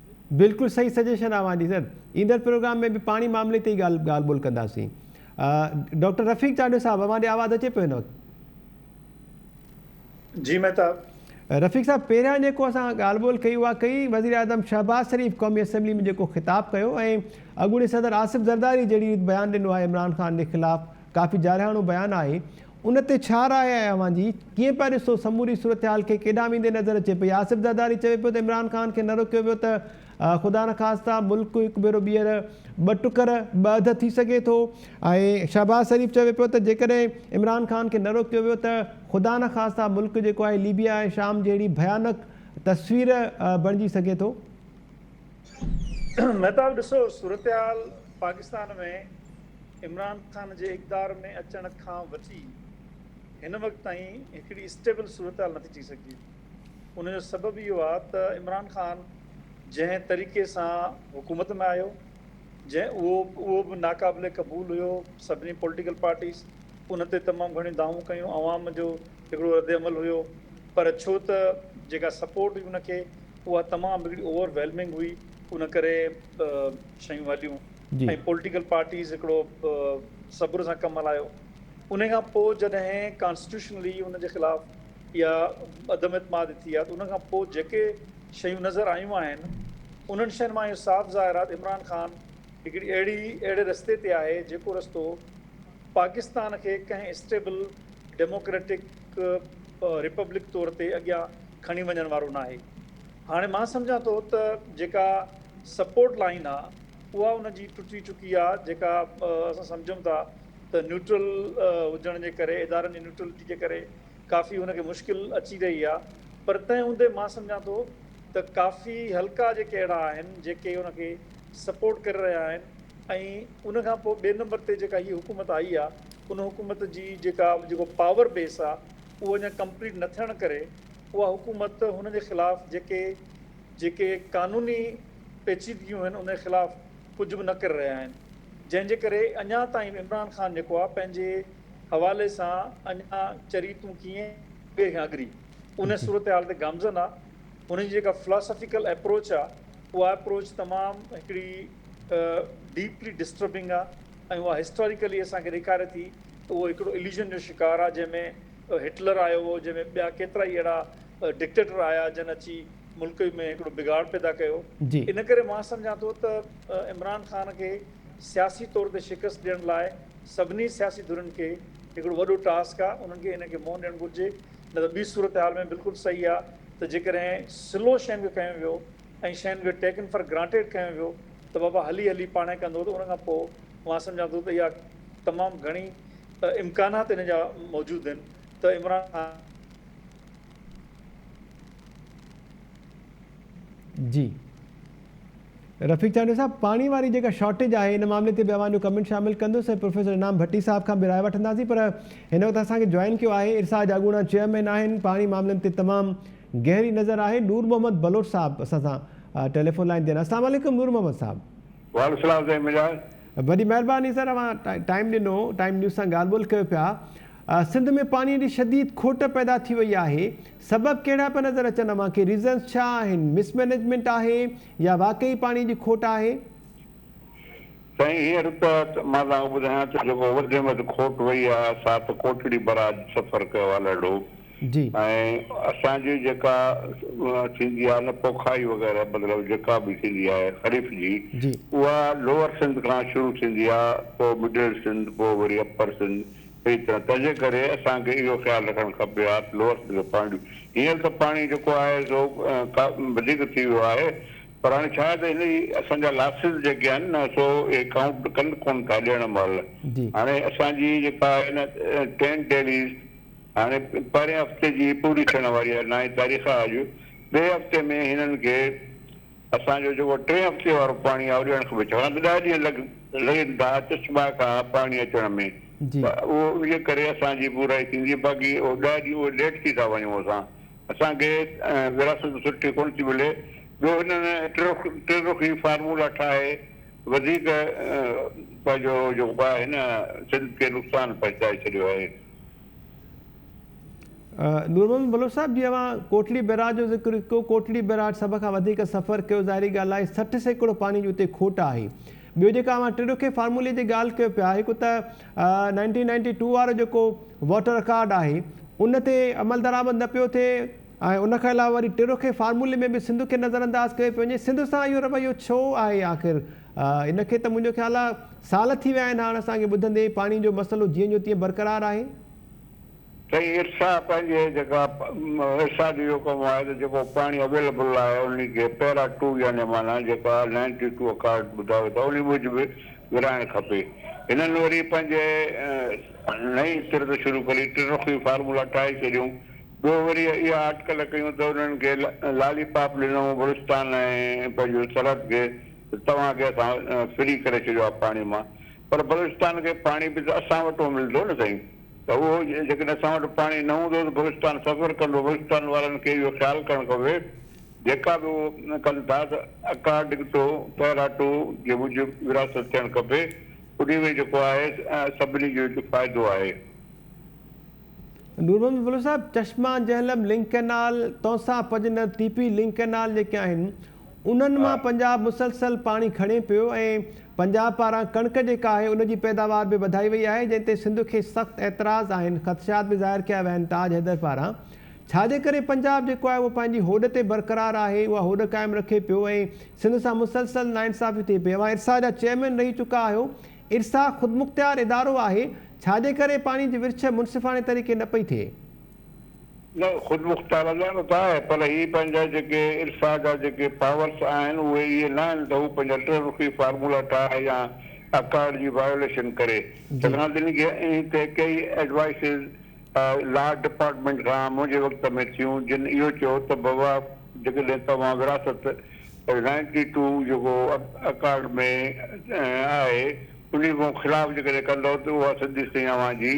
بلڪل صحيح سجيشن اوهان جي سر ايندڙ پروگرام ۾ به پاڻي معاملي تي ئي ڳالهه ڳالهه ٻولهه ڪنداسين ڊاڪٽر رفيق چانڊيو صاحب اوهان ڏي آواز اچي پيو هن وقت جي مهتاب رفيق صاحب پهريان جيڪو اسان ڳالهه ٻولهه ڪئي اها ڪئي وزير اعظم شهباز شريف قومي اسيمبلي ۾ جيڪو خطاب ڪيو ۽ اڳوڻي صدر آصف زرداري جهڙي ريت بيان ڏنو آهي عمران خان جي خلاف ڪافي جارحاڻو بيان آهي ان تي ڇا راء آهي اوهان جي؟ ڪيئن پيا ڏسو سموري صورتحال کي ڪيڏانهن ويندي نظر اچي پئي؟ آصف زرداري چوي پيو ته عمران خان کي نه روڪيو ويو ته خدا نه خاسته ملڪ هڪ ڀيرو ٻيهر ٻه ٽڪر، ٻه اڌ ٿي سگهي ٿو ۽ شهباز شريف چوي پيو ته جيڪڏهن عمران خان کي نه روڪيو ويو ته خدا نه خاسته ملڪ جيڪو آهي ليبيا ۽ شام جهڙي ڀيانڪ تصوير بڻجي سگهي ٿو. مهتاب ڏسو صورتحال پاڪستان ۾ عمران خان جي اقتدار ۾ اچڻ کان وٺي هن وقت تائين هڪڙي اسٽيبل صورتحال نٿي ٺهي سگهي. ان جو سبب اهو آهي ته عمران خان جنهن طريقي سان حڪومت ۾ آيو، جنهن اهو اهو به ناقابل قبول هيو، سڀني پوليٽيڪل پارٽيز ان تي تمام گهڻيون دانهون ڪيون، عوام جو هڪڙو ردعمل هيو، پر ڇو ته جيڪا سپورٽ هئي ان کي اها تمام هڪڙي اوور ويلمنگ هئي، ان ڪري شيون هليون. ۽ پوليٽيڪل پارٽيز هڪڙو صبر سان ڪم هلايو انهي کان پوء جڏهن ڪانسٽيٽيوشنلي ان جي خلاف يا عدم اعتماد ٿي آ ته ان کان پوء جيڪي شيون نظر آيون آهن انهن شين مان اهو صاف ظاهر آ ته عمران خان هڪڙي اهڙي اهڙي رستي تي آهي جيڪو رستو پاڪستان کي ڪنهن اسٽيبل ڊيموڪريٽڪ ريپبلڪ طور تي اڳيان کڻي وڃڻ وارو ناهي هاڻي مان سمجهان ٿو ته جيڪا سپورٽ لائين آ اها ان جي ٽٽي چڪي آهي جيڪا اسان سمجهون ٿا ته نيوٽرل هجڻ جي ڪري ادارن جي نيوٽرلٽي جي ڪري ڪافي ان کي مشڪل اچي رهي آهي پر تنهن هوندي مان سمجهان ٿو ته ڪافي حلقا جيڪي اهڙا آهن جيڪي ان کي سپورٽ ڪري رهيا آهن ۽ ان کان پوء ٻئي نمبر تي جيڪا هي حڪومت آئي آهي ان حڪومت جي جيڪا جيڪو پاور بيس آهي اهو اڃا ڪمپليٽ نه ٿيڻ ڪري اها حڪومت هن جي خلاف جيڪي جيڪي قانوني پيچيدگيون آهن انهي خلاف ڪجهه به نه ڪري رهيا آهن جنهن جي ڪري اڃا تائين به عمران خان جيڪو آهي پنهنجي حوالي سان اڃا چري تون ڪيئن اڳري کان اڳري انهي صورتحال تي گامزن آهي هن جي جيڪا فلاسافيڪل اپروچ آهي اها اپروچ تمام هڪڙي ڊيپلي ڊسٽربنگ آهي ۽ اها هسٽاريڪلي اسان کي ڏيکاري ٿي ته اهو هڪڙو اليوجن جو شڪار آهي جنهن ۾ هٽلر آيو هو جنهن ۾ ٻيا ڪيترائي اهڙا ڊڪٽيٽر آيا جن اچي ملڪ ۾ هڪڙو بگاڙ پيدا ڪيو ان ڪري مان سمجهان ٿو ته عمران خان کي سياسي طور تي شڪست ڏيڻ لاء سڀني سياسي ڌرين کي هڪڙو وڏو ٽاسڪ آ انهن کي ان کي منهن ڏيڻ گهرجي نه ته ٻي صورتحال ۾ بلڪل صحيح آ ته جيڪڏهن سلو شين کي کنيو ويو ۽ شين کي ٽيڪن فار گرانٽيڊ کنيو ويو ته بابا هلي هلي پاڻهي ڪندو ته ان کان پوء مان سمجهان ٿو ته اها تمام گهڻي امڪانات ان جا موجود آهن ته عمران خان جي رفيق چانڊيو صاحب پاڻي واري جيڪا شارٽيج آهي ان معاملي تي به اوهان جو ڪمنٽ شامل ڪندس ۽ پروفيسر انعام ڀٽي صاحب کان به راء وٺنداسين پر هن وقت اسان کي جوائن ڪيو آهي ارسا جاڳوڻا چيئرمين آهن پاڻي معاملن تي تمام گهري نظر آهي نور محمد بلوچ صاحب اسان سان ٽيليفون لائن تي السلام عليڪم نور محمد صاحب وعليڪم السلام زين مجاز وڏي مهرباني سر اوهان ٽائيم ڏنو ٽائيم نيوز سان ڳالهه ٻولهه ڪيو پيا سنڌ ۾ پاڻي جي شديد کوٽ پيدا ٿي وئي آهي سبب ڪهڙا پيا نظر اچن اوهان کي ريزنس ڇا آهن مس مينيجمينٽ آهي يا واقعي پاڻي جي کوٽ آهي. سائين هينئر ته مان توهانکي ٻڌايان ٿو جيڪو وڌ ۾ وڌ کوٽ وئي آهي سا ته ڪوٽڙي براج سفر ڪيو آهي لهڙو ۽ اسان جي جيڪا ٿيندي آهي نه پوکائي وغيره مطلب جيڪا به ٿيندي آهي خريف جي اها لوئر سنڌ کان شروع ٿيندي آهي پوء مڊل سنڌ پوء وري اپر سنڌ ٿئي ته تنهنجي ڪري اسان کي اهو خيال رکڻ کپي ها ته لوئر سٽيج آف پوائنٽ هينئر ته پاڻي جيڪو آهي سو ڪا وڌيڪ ٿي ويو آهي پر هاڻي ڇا آهي ته هن جي اسان جا لاسز جيڪي آهن نه سو اهي ڪائونٽ ڪن ڪون ٿا ڏيڻ مهل هاڻي اسان جي جيڪا آهي نه ٽين ڊيليز هاڻي پهرين هفتي جي پوري ٿيڻ واري آهي نائين تاريخ آهي اڄ ٻئي هفتي ۾ هنن کي اسان جو جيڪو ٽئين هفتي وارو پاڻي آهي اهو ڏيڻ کپي ڇاڪاڻ ته ڏهه ڏينهن لڳ لڳن ٿا چشما کان پاڻي اچڻ ۾ ته اهو انهيء ڪري اسان جي پورائي ٿيندي باقي اهو ڏهه ڏينهن اهي ليٽ ٿي ٿا وڃون اسان اسان کي ورهاست سٺي ڪونه ٿي ملي ٻيو هنن ٽي رخي فارمولا ٺاهي وڌيڪ پنهنجو جيڪو آهي نه سنڌ کي نقصان پهچائي ڇڏيو آهي. نور محمد بلوچ صاحب جي اوهان ڪوٽڙي بئراج جو ذڪر ڪيو ڪوٽڙي بئراج سڀ کان وڌيڪ سفر ڪيو ظاهري ڳالهه آهي سٺ سيڪڙو پاڻي جي اتي کوٽ آهي ٻيو جيڪا اوهان ٽي ڏوکي فارمولي جي ڳالهه ڪيو پيا هڪ ته نائنٽين نائنٽي ٽو وارو جيڪو واٽر ڪارڊ آهي ان تي عمل درآمد نه پيو ٿئي ۽ ان کان علاوه وري ٽي ڏوکي فارمولي ۾ به سنڌ کي نظر انداز ڪيو پيو وڃي سنڌ سان اهو رويو ڇو آهي آخر ان کي ته منهنجو خيال آ سال ٿي ويا آهن هاڻ اسان کي ٻڌندي پاڻي جو مسئلو جيئن جو تيئن برقرار آهي. سائين ارسا پنهنجي جيڪا ارسا جو اهو ڪم آهي ته جيڪو پاڻي اويليبل آهي انهي کي پيرا ٽو يعني معنيٰ جيڪا نائنٽي ٽو اڪارڊ ٻڌايو اٿئو انهي موجب ورهائڻ کپي هنن وري پنهنجي نئين تر ته شروع ڪري ٽرخي فارمولا ٺاهي ڇڏيون ٻيو وري اها اٽڪل ڪيون ته انهن کي لالي پاپ ڏنئون بلوچستان ۽ پنهنجو سرحد کي ته توهان کي اسان فري ڪري ڇڏيو آهي پاڻي مان پر بلوچستان کي پاڻي به ته اسان وٽ ملندو نه سائين ته اهو جيڪڏهن اسان وٽ پاڻي نه هوندو ته بلوچستان سفر ڪندو بلوچستان وارن کي اهو خيال ڪرڻ کپي جيڪا به اهو ڪن ٿا ته اڪارڊنگٽو پيراٽو جي موجب وراثت ٿيڻ کپي انهي ۾ جيڪو آهي سڀني جو هتي فائدو آهي. نور محمد بلوچ صاحب چشما جهلم لنڪ ڪئنال تونسا پڄ نه تي پي لنڪ ڪئنال جيڪي آهن انهن مان پنجاب مسلسل پاڻي کڻي پيو ۽ پنجاب پاران ڪڻڪ جيڪا آهي ان جي پيداوار به وڌائي وئي آهي جنهن تي سنڌ کي سخت اعتراض آهن خدشات به ظاهر ڪيا ويا آهن تاج حيدر پاران ڇا جي ڪري پنجاب جيڪو آهي اهو پنهنجي هوڏ تي برقرار آهي اها هوڏ قائم رکي پيو ۽ سنڌ سان مسلسل ناانصافي ٿئي پئي اوهان ارسا جا چيئرمين رهي چڪا آهيو ارسا خودمختيار ادارو آهي ڇا جي ڪري پاڻي جي ورڇ منصفاڻي طريقي نه پئي ٿئي. نه خودمختارانه ته آهي پر هي پنهنجا جيڪي ارسا جا جيڪي پاورس آهن اهي اهي نه آهن ته هو پنهنجا ٽه رخي فارمولا ٺاهي يا اڪارڊ جي وايوليشن ڪري سگهان ٿي نڪي انهي تي ڪيئي ايڊوائسز لا ڊپارٽمينٽ کان منهنجي وقت ۾ ٿيون جن اهو چيو ته بابا جيڪڏهن توهان وراثت نائنٽي ٽو جيڪو اڪارڊ ۾ آهي انهي مون خلاف جيڪڏهن ڪندؤ ته اها سڌي سئي اوهان جي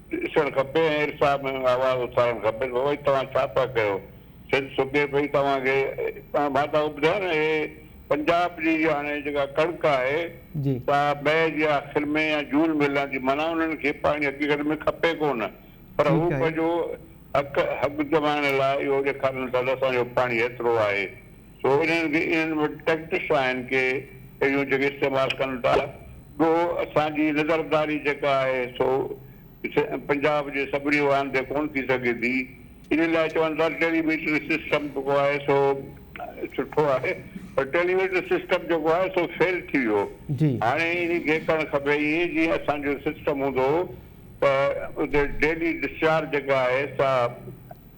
ڏسڻ کپي ۽ ارسا ۾ آواز اٿارڻ کپي ته اوهين توهان ڇا پيا ڪيو. سنڌ سڪي پئي توهان کي مان تهانکي ٻڌايو نه هي پنجاب جي هاڻي جيڪا ڪڻڪ آهي سا مئي جي آخر ۾ يا جون ۾ لهندي معنيٰ انهن کي پاڻي حقيقت ۾ کپي ڪونه پر هو پنهنجو حق حق جمائڻ لاء اهو ڏيکارين ٿا ته اسان جو پاڻي هيترو آهي. سو انهن کي انهن وٽ ٽيڪٽس آهن ڪي اهڙيون جيڪي استعمال ڪن ٿا گو اسان جي نظرداري جيڪا آهي سو پنجاب جي سڀني واهن تي ڪون ٿي سگهي ٿي ان لاء چون ٿا ٽيلي ميٽري سسٽم جيڪو آهي سو سٺو آهي پر ٽيلي ميٽري سسٽم جيڪو آهي سو فيل ٿي ويو هاڻي ان کي ڪرڻ کپي ائين جيئن اسان جو سسٽم هوندو هو ته اتي ڊيلي ڊسچارج جيڪا آهي سا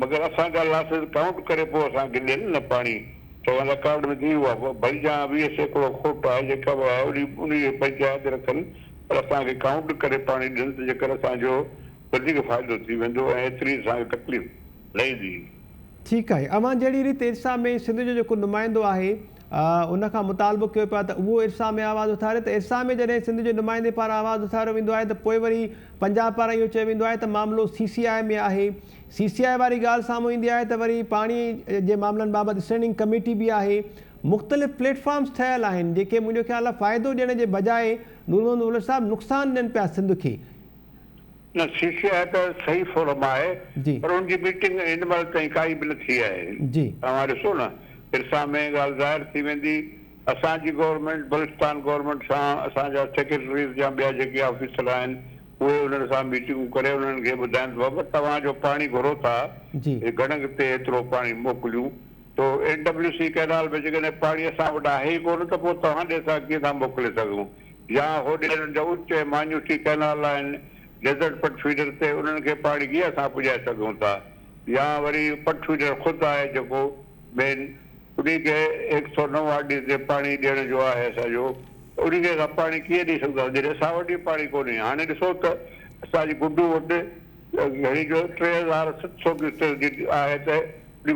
مگر اسان جا لاسز ڪائونٽ ڪري پوء اسان کي ڏين نه پاڻي چون رڪارڊ ۾ ٿي اهو آهي پوء ڀلي جا ويهه سيڪڙو کوٽ آهي جيڪا به آهي انهي انهي جي پنچائت رکن پر اسان کي ڪائونٽ ڪري پاڻي ڏين ته جيڪر اسان جو وڌيڪ فائدو ٿي ويندو ۽ ايتري اسان کي تڪليف نه ايندي. ٺيڪ آهي اوهان جهڙي ريت ارسا ۾ سنڌ جو جيڪو نمائندو آهي ان کان مطالبو ڪيو پيو آهي ته اهو ارسا ۾ آواز اٿاري ته ارسا ۾ جڏهن سنڌ جي نمائندي پاران آواز اٿاريو ويندو آهي ته پوء وري پنجاب پاران اهو چيو ويندو آهي ته معاملو سي سي آء ۾ آهي سي سي آء واري ڳالهه سامهون ايندي آهي ته وري پاڻي جي معاملن بابت اسٽينڊنگ ڪميٽي به آهي مختلف پليٽ فارمز ٺهيل آهن جيڪي منهنجو خيال آهي فائدو ڏيڻ جي بجاء نورمحمد مولوي صاحب نقصان ڏين پيا سنڌ کي. نه سي سي آء ته صحيح فورم آهي پر ان جي ميٽنگ هن مهل تائين ڪائي به نه ٿي آهي توهان ڏسو نه پرسان ۾ ڳالهه ظاهر ٿي ويندي اسان جي گورنمينٽ بلوچستان گورنمينٽ سان اسان جا سيڪريٽريز يا ٻيا جيڪي آفيسر آهن اهي انهن سان ميٽنگون ڪري انهن کي ٻڌائين ته بابا توهان جو پاڻي گهرو ٿا گڙنگ تي ايترو پاڻي موڪليون ٿو اين ڊبليو سي ڪئنال ۾ جيڪڏهن پاڻي اسان وٽ آهي ئي ڪونه ته پوء توهان ڏي اسان ڪيئن ٿا موڪلي سگهون يا هوڏي انهن جا اتي مانيوسي ڪئنال آهن، ڊيزرٽ پٽ فيڊر تي انهن کي پاڻي گيا سان پڄائي سگهون ٿا يا وري پٽ فيڊر خود آهي جيڪو مين انهي کي هڪ سؤ نو آر ڊي تي پاڻي ڏيڻ جو آهي اسان جو ته انهي کي اسان پاڻي ڪيئن ڏئي سگهون ٿا جڏهن اسان وٽ ئي پاڻي ڪونهي هاڻي ڏسو ته اسان جي گڊو وٽ گهڻي جو ٽي هزار ست سؤ ڪيوسڪ جي آهي ته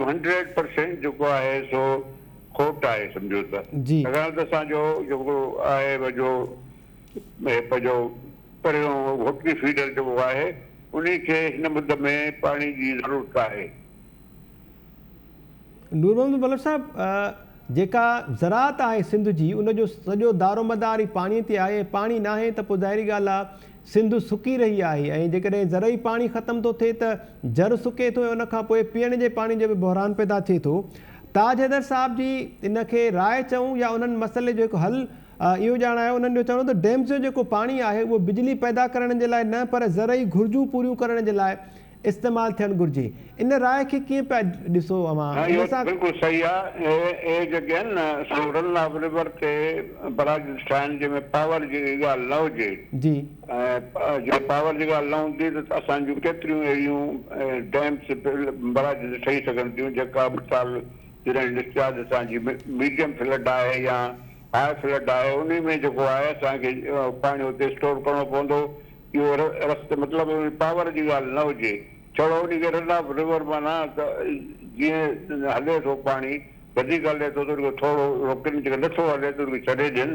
هنڊريڊ پرسينٽ جيڪو آهي سو کوٽ آهي سمجهو ته ڇاڪاڻ ته اسان جو جيڪو آهي ويجهو اهي پنهنجو پريون هڪڙي فيڊر جيڪو آهي انهي کي هن مد ۾ پاڻي جي ضرورت آهي. نور محمد ملڪ صاحب جيڪا زراعت آهي سنڌ جي ان جو سڄو دارومدار ئي پاڻي تي آهي ۽ پاڻي ناهي ته پوء ظاهري ڳالهه آهي سنڌ سڪي رهي آهي ۽ جيڪڏهن زرعي پاڻي ختم ٿو ٿئي ته جر سڪي ٿو ۽ ان کان پوء پيئڻ جي پاڻي جو به بحران پيدا ٿئي ٿو تاج حيدر صاحب جي ان کي راء چئون يا انهن مسئلي جو هڪ حل اهو ڄاڻ آهي انهن جو چوڻ هو ته ڊيمز جو جيڪو پاڻي آهي اهو بجلي پيدا ڪرڻ جي لاء نه پر زرعي گهرجون پوريون ڪرڻ جي لاء استعمال ٿيڻ گهرجي ان راء کي ڪيئن پيا ڏسو اوهان نه ان اهو سان بلڪل صحيح آ اهي جيڪي آهن نه سو رن آف ريور تي براجز ٺاهڻ جنهن ۾ پاور جي ڳالهه نه هجي. جي. ۽ جي پاور جي ڳالهه نه هوندي ته اسان جون ڪيتريون اهڙيون ڊيمز، بئراجز ٺهي سگهن ٿيون جيڪا مثال جڏهن ڊسچارج اسان جي ميڊيم فلڊ آهي يا هاء فلڊ آهي انهي ۾ جيڪو آهي اسان کي پاڻي اتي اسٽور ڪرڻو پوندو اهو رستي مطلب پاور جي ڳالهه نه هجي ڇڙو انهي کي رن آف ريور معنيٰ ته جيئن هلي ٿو پاڻي وڌيڪ هلي ٿو ته ان کي ٿورو روڪين جيڪڏهن نٿو هلي ته ان کي ڇڏي ڏين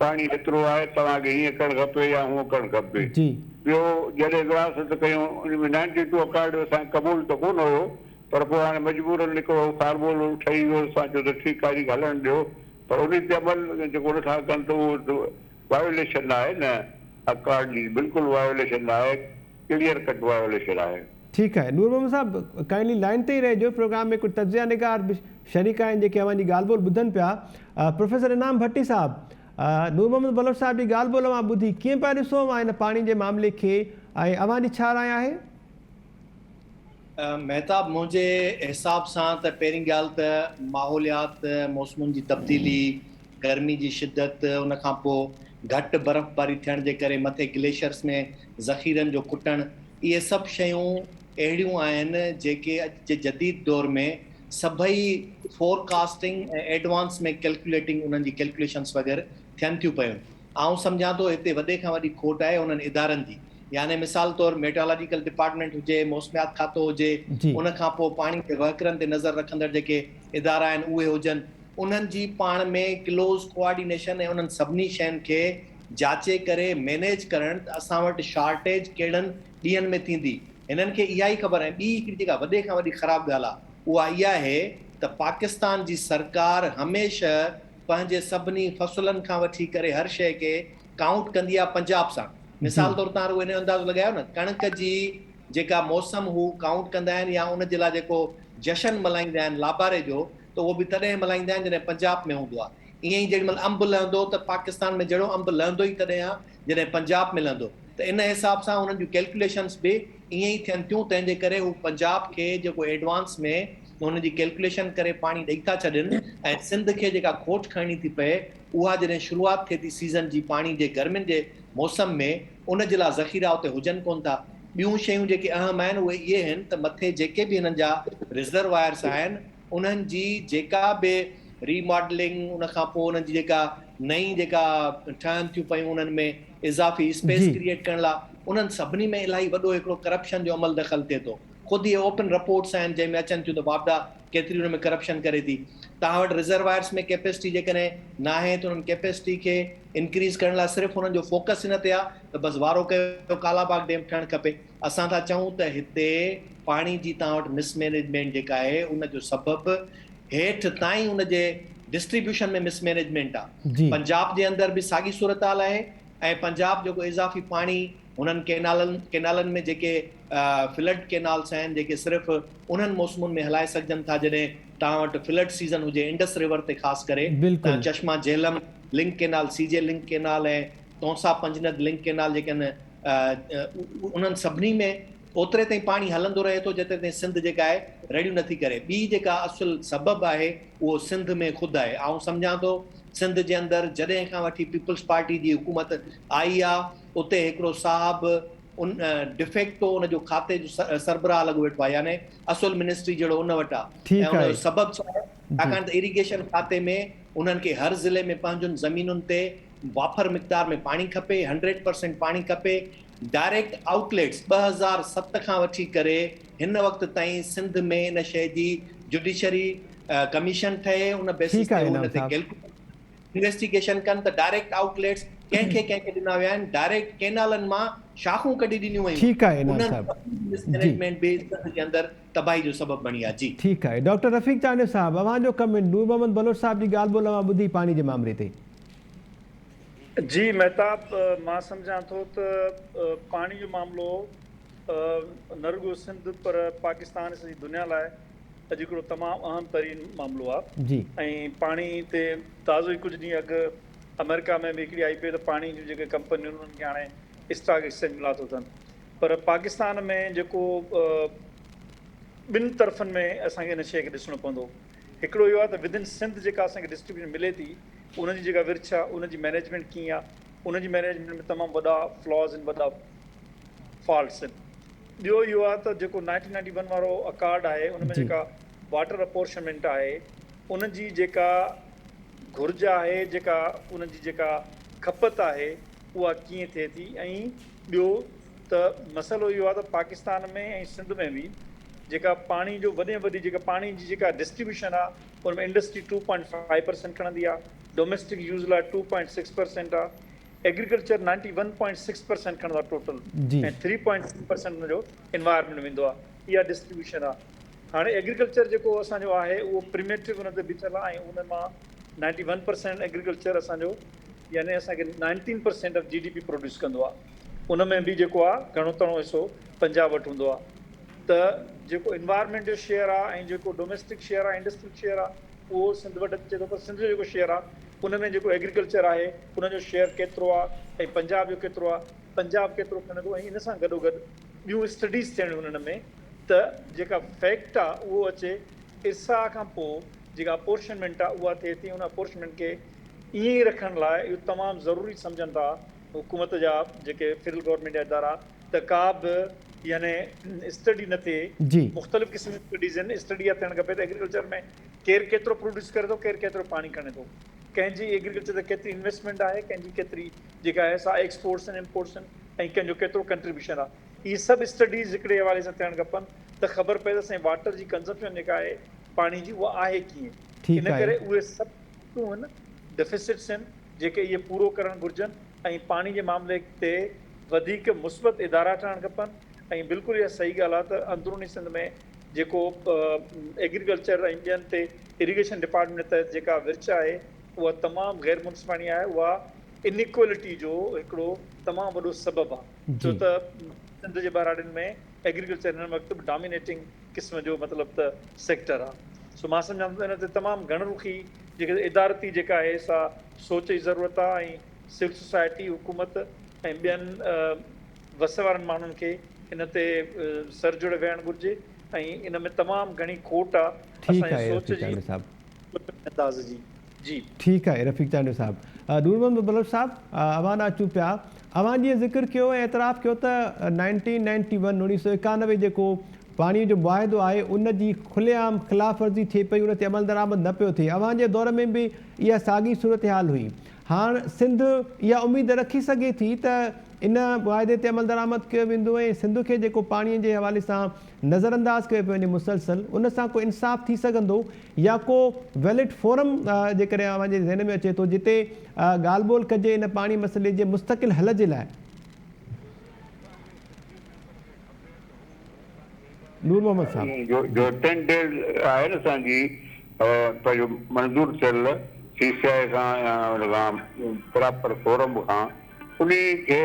پاڻي هيترو آهي، توهان کي هيئن ڪرڻ کپي يا هونء ڪرڻ کپي. ٻيو، جڏهن وراثت ڪيون، ان ۾ نائنٽي ٽو اڪارڊ اسان کي قبول ته ڪونه هيو، پر پوء هاڻي مجبوراً هڪڙو فارمولو ٺهي ويو، اسان چيو ته ٺيڪ آهي، انهي کي هلڻ ڏيو، پر انهي تي عمل جيڪو نٿا ڪن ته اهو ته وايوليشن آهي نه، اڪارڊ جي بلڪل وايوليشن آهي. ڪليئر ڪٽ وائوليشن آهي. ٺيڪ آهي نور محمد صاحب ڪائنڊلي لائين تي ئي رهجو پروگرام ۾ ڪجهه تجزيه نگار به شريڪ آهن جيڪي اوهان جي ڳالهه ٻولهه ٻڌن پيا پروفيسر انعام ڀٽي صاحب نور محمد بلوچ صاحب جي ڳالهه ٻولهه اوهان ٻڌي ڪيئن پيا ڏسو اوهان هن پاڻي جي معاملي کي ۽ اوهان جي ڇا راء آهي؟ مهتاب منهنجي حساب سان ته پهرين ڳالهه ته ماحوليات موسمن جي تبديلي گرمي جي شدت، ان کان پوء گهٽ برفباري ٿيڻ جي ڪري مٿي گليشئرس ۾ ذخيرن جو کٽڻ، اهي سڀ شيون اهڙيون آهن جيڪي اڄ جي جديد دور ۾ سڀئي فورڪاسٽنگ ۽ ايڊوانس ۾ ڪيلڪيوليٽنگ انهن جي ڪيلڪيوليشنس وغيره ٿين ٿيون پيون. آئون سمجهان ٿو هتي وڏي کان وڏي کوٽ آهي انهن ادارن جي يعني مثال طور ميٽرالاجيڪل ڊپارٽمينٽ هجي، موسميات کاتو هجي، ان کان پوء پاڻي جي وهڪرن تي نظر رکندڙ جيڪي ادارا آهن اهي هجن، انهن جي پاڻ ۾ ڪلوز ڪو آرڊينيشن ۽ انهن سڀني شين کي جاچي ڪري مينيج ڪرڻ ته اسان وٽ شارٽيج ڪهڙن ڏينهن ۾ ٿيندي هنن کي اها ئي خبر ۽ ٻي هڪڙي جيڪا وڏي کان وڏي خراب ڳالهه آهي اها اها آهي ته پاڪستان جي سرڪار هميشه پنهنجي سڀني فصلن کان وٺي ڪري هر شيء کي ڪائونٽ ڪندي آهي پنجاب سان مثال طور تان رڳو انهيو اندازو لڳايو نه ڪڻڪ جي جيڪا موسم هو ڪائونٽ ڪندا آهن يا ان جي لاء جيڪو جشن ملهائيندا آهن لاباري جو ته اهو به تڏهن ملهائيندا آهن جڏهن پنجاب ۾ هوندو آهي ائين ئي جيڏمهل انب لهندو ته پاڪستان ۾ جهڙو انب لهندو ئي تڏهن آهي جڏهن پنجاب ۾ لهندو ته ان حساب سان انهن جون ڪيلڪوليشنس به ائين ئي ٿين ٿيون تنهن جي ڪري هو پنجاب کي جيڪو ايڊوانس ۾ انهن جي ڪيلڪوليشن ڪري پاڻي ڏئي ٿا ڇڏين ۽ سنڌ کي جيڪا کوٽ کڻڻي ٿي پئي اها جڏهن شروعات ٿئي ٿي سيزن جي پاڻي جي گرمين جي موسم ۾ ان جي لاء ذخيرا اتي هجن ڪونه ٿا ٻيون شيون جيڪي اهم آهن اهي اهي آهن ته مٿي جيڪي به هنن جا رزروائرس آهن انهن جي جيڪا به ري ماڊلنگ ان کان پوء انهن جي جيڪا نئين جيڪا ٺهن ٿيون پيون انهن ۾ اضافي اسپيس ڪريئيٽ ڪرڻ لاء انهن سڀني ۾ الاهي وڏو هڪڙو ڪرپشن جو عمل دخل ٿئي ٿو خود اهي اوپن رپورٽس آهن جنهن ۾ اچن ٿيون ته واپڊا ڪيتري ان ۾ ڪرپشن ڪري ٿي توهان وٽ رزروائرس ۾ ڪيپيسٽي جيڪڏهن ناهي ته انهن ڪيپيسٽي کي انڪريز ڪرڻ لاء صرف انهن جو فوڪس هن تي آهي ته بس وارو ڪيو ڪالاباغ ڊيم ٺهڻ کپي اسان ٿا چئون ته هتي پاڻي جي توهان وٽ مس مينيجمينٽ جيڪا آهي ان جو سبب هيٺ تائين ان جي ڊسٽريبيوشن ۾ مس مينيجمينٽ آ پنجاب جي اندر به ساڳي صورتحال آهي ۽ پنجاب جيڪو اضافي پاڻي هنن ڪينالن ڪينالن ۾ جيڪي فلڊ ڪينالس آهن جيڪي صرف انهن موسمن ۾ هلائي سگهجن ٿا جڏهن توهان وٽ فلڊ سيزن هجي انڊس ريور تي خاص ڪري ته Chashma Jhelum link canal C J link canal ۽ Taunsa Panjnad link canal جيڪي ان انهن سڀني ۾ اوتري تائين پاڻي هلندو رهي ٿو جيتري تائين سنڌ جيڪا آهي رڙيون نٿي ڪري ٻي جيڪا اصل سبب آهي اهو سنڌ ۾ خود آهي آئون سمجهان ٿو سنڌ جي اندر جڏهن کان وٺي پيپلز پارٽي جي حڪومت آئي آ اتي هڪڙو صاحب ان ڊفيڪٽو ان جو کاتي جو سربراهه لڳو ويٺو آهي يعني اصل منسٽري جهڙو ان وٽ آ ۽ ان جو سبب ڇا آهي ڇاڪاڻ ته اريگيشن کاتي ۾ انهن کي هر ضلعي ۾ پنهنجن زمينن تي وافر مقدار ۾ پاڻي کپي، هنڊريڊ پرسينٽ پاڻي کپي، ڊائريڪٽ آئوٽ ليٽس ٻه هزار ست کان وٺي ڪري هن وقت تائين سنڌ ۾ ان شيء جي جڊيشري ڪميشن ٺهي ان بيسس تي هو ان تي ڪيلڪوليٽ انويسٽيگيشن ڪن ته ڊائريڪٽ آئوٽ ليٽس ڪنهن کي ڪنهن کي ڏنا ويا آهن، ڊائريڪٽ ڪينالن مان شاخون ڪڍي ڏنيون ويون، انهن جو مس مئنيجمينٽ به سنڌ جي اندر تباهي جو سبب بڻي آ جي. ٺيڪ آهي ڊاڪٽر رفيق چانڊيو صاحب اوهان جو ڪمينٽ نور محمد بلوچ صاحب جي ڳالهه ٻولهه اوهان ٻڌي پاڻي جي مامري تي. جي مهتاب مان سمجهان ٿو ته پاڻي جو معاملو نه رڳو سنڌ پر پاڪستان ۽ سڄي دنيا لاء اڄ هڪڙو تمام اهم ترين معاملو آ ۽ پاڻي تي تازو ئي ڪجهه ڏينهن اڳ آمريڪا ۾ به هڪڙي آئي پيو ته پاڻي جون جيڪي ڪمپنيون انهن کي هاڻي اسٽاڪ ايڪسچينج ملان ٿو ٿين پر پاڪستان ۾ جيڪو ٻن طرفن ۾ اسان کي ان شيء کي ڏسڻو پوندو هڪڙو اهو آهي ته ودن سنڌ جيڪا اسان کي ڊسٽريبيوشن ملي ٿي ان جي جيڪا ورڇ آهي ان جي مينيجمينٽ ڪيئن آهي ان جي مينيجمينٽ ۾ تمام وڏا فلاز آهن وڏا فالٽس آهن ٻيو اهو آهي ته جيڪو نائنٽين نائنٽي ون وارو اڪارڊ آهي ان ۾ جي. جيڪا واٽر اپورشمنٽ آهي ان جي جيڪا گهرج آهي جيڪا ان جي جيڪا کپت آهي اها ڪيئن ٿئي ٿي ۽ ٻيو ته مسئلو اهو آهي ته پاڪستان ۾ ۽ سنڌ ۾ به جيڪا پاڻي جو وڏي ۾ وڏي جيڪا پاڻي جي جيڪا ڊسٽريبيوشن آهي ان ۾ industry two point five percent کڻندي آهي ڊوميسٽڪ يوز لاء ٽو پوائنٽ سڪس پرسينٽ آهي agriculture ninety one point six percent کڻندو آهي total ۽ three point three percent ان جو انوائرمينٽ ويندو آهي اها ڊسٽريبيوشن آهي هاڻي ايگريڪلچر جيڪو اسان جو آهي اهو پريميٽو ان تي بيٺل آهي ۽ ان مان نائنٽي ون پرسينٽ ايگريڪلچر اسان جو يعني اسان کي nineteen percent of G D P produce ڪندو آ ان ۾ به جيڪو آ گهڻو تڻو حصو پنجاب وٽ هوندو آ ته جيڪو انوائرمينٽ جو شيئر آ ۽ جيڪو ڊوميسٽڪ شيئر آ انڊسٽريل شيئر آ اهو سنڌ وٽ اچي ٿو پر سنڌ جو جيڪو شيئر آ ان ۾ جيڪو ايگريڪلچر آهي ان جو شيئر ڪيترو آ ۽ پنجاب جو ڪيترو آ پنجاب ڪيترو کڻي ٿو ۽ ان سان گڏو گڏ ٻيون اسٽڊيز ٿيڻيون انهن ۾ ته جيڪا فيڪٽ آ اهو اچي ارسا کان پوء جيڪا اپورشنمينٽ آ اها ٿئي ٿي ان اپورشنمينٽ کي ائين ئي رکڻ لاء اهو تمام ضروري سمجهن ٿا حڪومت جا جيڪي فيڊرل گورنمينٽ جا ادارا ته ڪا به يعني اسٽڊي نه ٿئي جي. مختلف قسم جون اسٽڊيز آهن اسٽڊي اها ٿيڻ کپي ته ايگريڪلچر ۾ ڪير ڪيترو پروڊيوس ڪري ٿو ڪير ڪيترو پاڻي کڻي ٿو ڪنهن جي ايگريڪلچر تي ڪيتري انويسٽمينٽ آهي ڪنهن جي ڪيتري جيڪا آهي سا ايڪسپورٽس آهن امپورٽس آهن ۽ ڪنهن جو ڪيترو ڪنٽريبيوشن آهي اهي سڀ اسٽڊيز هڪڙي حوالي سان ٿيڻ کپن ته خبر پئي ته اسان جي واٽر جي ڪنزمپشن جيڪا آهي پاڻي جي اها آهي ڪيئن ان ٺيڪ آهي. ڪري اهي سڀ اهن ڊفيسٽس هن جيڪي اهي پورو ڪرڻ گهرجن ۽ پاڻي جي معاملي تي وڌيڪ مثبت ادارا ٺهڻ کپن ۽ بلڪل اها صحيح ڳالهه آهي ته اندروني سنڌ ۾ جيڪو ايگريڪلچر ۽ ٻين تي اريگيشن ڊپارٽمينٽ تحت جيڪا ورڇ آهي اها تمام غير منصفاڻي آهي اها انيڪويلٽي جو هڪڙو تمام وڏو سبب آهي ڇو ته سنڌ جي ٻهراڙين ۾ ايگريڪلچر هن وقت به ڊامينيٽنگ قسم جو مطلب ته سيڪٽر آ سو مان سمجهان ٿو ته ان تي تمام گهڻ رخي جيڪي ادارتي جيڪا آهي سا سوچ جي ضرورت آ ۽ سول سوسائٽي حڪومت ۽ ٻين وس وارن ماڻهن کي ان تي سر جوڙي ويهڻ گهرجي ۽ ان ۾ تمام گهڻي کوٽ آ اسان جي سوچ جي ۽ انداز جي. جي. ٺيڪ آهي رفيق چانڊيو صاحب. نور محمد بلوچ صاحب اوهان ڏانهن اچون پيا. اوهان جيئن ذڪر ڪيو ۽ اعتراف ڪيو ته نائنٽين نائنٽي ون، اڻويهه سؤ ايڪانوي، جيڪو پاڻي جو معاهدو آهي ان جي کلي عام خلاف ورزي ٿئي پئي ان تي عملدرآمد نه پيو ٿئي اوهان جي دور ۾ به اها ساڳي صورتحال هئي هاڻ سنڌ اها اميد رکي سگهي ٿي ته ان معاهدي تي عملدرآمد ڪيو ويندو ۽ سنڌ کي جيڪو پاڻي جي حوالي سان نظر انداز ڪيو پيو وڃي مسلسل ان سان ڪو انصاف ٿي سگهندو يا ڪو ويلڊ فورم جيڪڏهن اوهان جي ذهن ۾ اچي ٿو جتي ڳالهه ٻولهه ڪجي ان پاڻي مسئلي جي مستقل حل جي لاء. نور محمد صاحب. جو ٽين ڊيز آهي نه اسان جي پنهنجو منظور ٿيل سي سي آء کان يا ان کان پراپر فورم کان انهي کي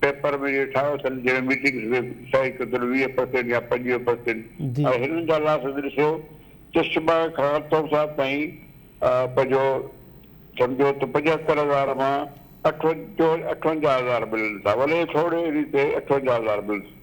پيپر ۾ جيڪي ٺاهيو اٿن جنهن ميٽنگس ۾ صحيح ڪيو اٿن ويهه پرسينٽ يا پنجويهه پرسينٽ ۽ هنن جا لاسز ڏسو ته شباء کان اطهر صاحب تائين پنهنجو سمجهو ته پنجهتر هزار مان اٺونجاهه هزار ملن ٿا ولي ٿورڙي ريت اٺونجاهه هزار ملن ٿا.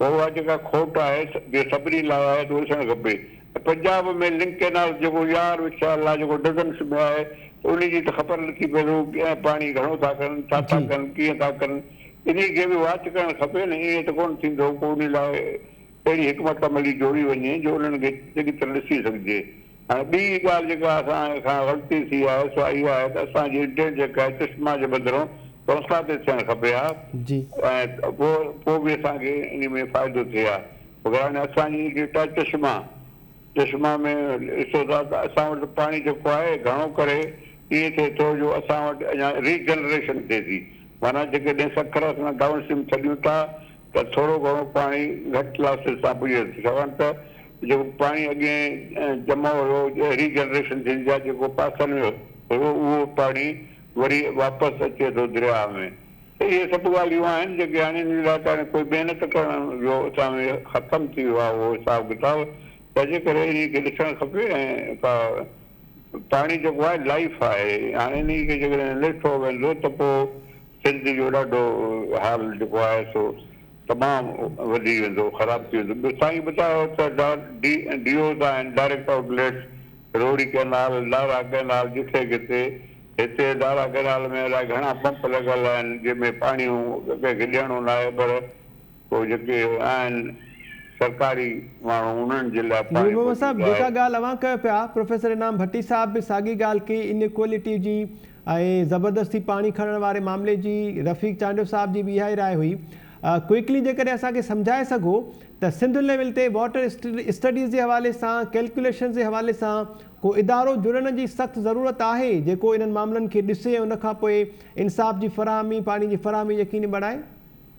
اها جيڪا کوٽ آهي جي سڀني لاء آهي ته ڏسڻ کپي ۽ پنجاب ۾ لنڪ ڪينال جيڪو يار وڇايل لاء جيڪو ڊزنس ۾ آهي ته انهي جي ته خبر نٿي پئي ته هو ڪئين پاڻي گهڻو ٿا ڪن ڇا ٿا ڪن ڪيئن ٿا ڪن انهي کي به واچ ڪرڻ کپي نه ائين ته ڪونه ٿيندو ڪو انهي لاء اهڙي حڪمت عملي جوڙي وڃي جو انهن کي چڱي طرح ڏسي سگهجي ۽ ٻي ڳالهه جيڪا اسان کان غلطي ٿي آهي سو اها آهي ته اسان جي انٽينٽ جيڪا آهي چشما جي بدران توسان تي ٿيڻ کپي ها جي. ۽ پوء پوء به اسان کي انهي ۾ فائدو ٿئي ها وگراني اسان جي ڊيٽا چشما چشما ۾ ڏسو ٿا ته اسان وٽ پاڻي جيڪو آهي گهڻو ڪري ائين ٿئي ٿو جو اسان وٽ اڃا ري جنريشن ٿئي ٿي معنيٰ جيڪڏهن سکر اسان ڊائون اسٽريم ڇڏيون ٿا ته ٿورو گهڻو پاڻي گهٽ لاسز سان پڄي وڃي ٿو ڇاڪاڻ ته جيڪو پاڻي اڳين جمع هيو اهڙي جنريشن ٿيندي آهي جيڪو پاسن ۾ هيو اهو پاڻي وري واپس اچي ٿو درياهه ۾ ته اهي سڀ ڳالهيون آهن جيڪي هاڻي ان لاء ته هاڻي ڪوئي محنت ڪرڻ جو اسان ۾ ختم ٿي ويو آهي اهو حساب ڪتاب تنهنجي ڪري انهي کي ڏسڻ کپي ۽ ڪا پاڻي جيڪو آهي لائيف آهي هاڻي انهي کي جيڪڏهن لٺو ويندو ته پوء سنڌ جو ڏاڍو حال جيڪو آهي سو تمام وڌي ويندو خراب ٿي ويندو ٻيو سائين ٻتايو ته ڊي اوز آهن ڊائريڪٽ آئوٽ ليٽس روهڙي ڪئنال لاڙا ڪئنال جتي ڪٿي هتي لاڙا ڪئنال ۾ الائي گهڻا پمپ لڳل آهن جنهن ۾ پاڻي ڪنهن کي ڏيڻو ناهي پر پوء جيڪي آهن سرڪاري ماڻهو انهن جي لاء پاڻي محمد صاحب موجود جيڪا آهي. ڳالهه اوهان ڪيو پيا پروفيسر انعام ڀٽي صاحب به ساڳي ڳالهه ڪئي انيڪوئلٽي جي ۽ زبردستي پاڻي کڻڻ واري معاملي جي رفيق چانڊيو صاحب جي به اها ئي راء هئي ڪوئڪلي جيڪڏهن اسان کي سمجهائي سگهو ته سنڌ ليول تي واٽر اسٽڊيز جي حوالي سان ڪيلڪوليشنز جي حوالي سان ڪو ادارو جڙڻ جي سخت ضرورت آهي جيڪو انهن معاملن کي ڏسي ۽ ان کان پوء انصاف جي فراهمي پاڻي جي فراهمي يقيني بڻائي.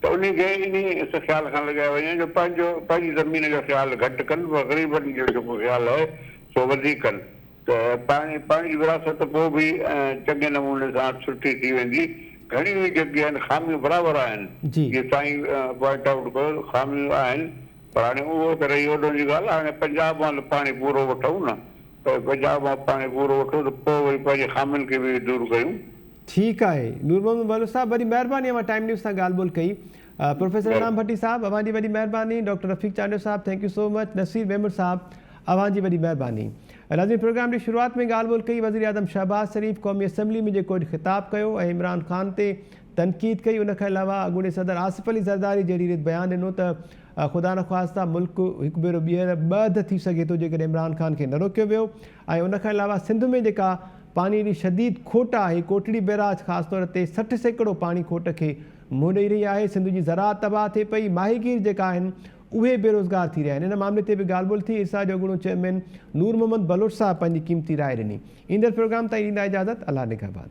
ته انهي کي انهي اس خيال کان لڳايو وڃي جو پنهنجو پنهنجي زمين جو خيال گهٽ ڪن پر غريبن جو جيڪو خيال آهي سو وڌيڪ ڪن ته پاڻي پاڻي جي وراثت پوء به چڱي نموني سان سٺي ٿي ويندي گهڻيون ئي جيڪي آهن خاميون برابر آهن جيئن سائين پوائنٽ آئوٽ ڪيو خاميون آهن پر هاڻي اهو ته رهي اوڏهن جي ڳالهه هاڻي پنجاب مان ته پاڻي پورو وٺون نه پنجاب مان پاڻي پورو وٺون ته پوء وري پنهنجي خامين کي به دور ڪيون. ٺيڪ آهي نور محمد مولوي صاحب وڏي مهرباني اوهان ٽائيم نيوز سان ڳالهه ٻولهه ڪئي پروفيسر انعام ڀٽي صاحب اوهان جي وڏي مهرباني ڊاڪٽر رفيق چانڊيو صاحب thank you so much Naseer Memon صاحب اوهان جي وڏي مهرباني ناظرين پروگرام جي شروعات ۾ ڳالهه ٻولهه ڪئي وزيراعظم شهباز شريف قومي اسيمبلي ۾ جيڪو اڄ خطاب ڪيو ۽ عمران خان تي تنقيد ڪئي ان کان علاوه اڳوڻي صدر آصف علي زرداري جهڙي ريت بيان ڏنو ته خدا نخواسته ملڪ هڪ ڀيرو ٻيهر ٻه اڌ ٿي سگهي ٿو جيڪڏهن عمران خان کي نه روڪيو ويو ۽ ان کان علاوه سنڌ ۾ جيڪا پاڻي جي شديد کوٽ آهي، ڪوٽڙي بئراج خاص طور تي سٺ سيڪڙو پاڻي کوٽ کي منهن ڏئي رهي آهي، سنڌ جي زراعت تباهه ٿئي پئي، ماهيگير جيڪا آهن اهي بيروزگار ٿي رهيا آهن، ان معاملي تي به ڳالهه ٻولهه ٿي، ارسا جو اڳوڻو چيئرمين نور محمد بلوچ صاحب پنهنجي قيمتي راء ڏني. ايندڙ پروگرام تائين ڏيندا اجازت، الله نگهبان.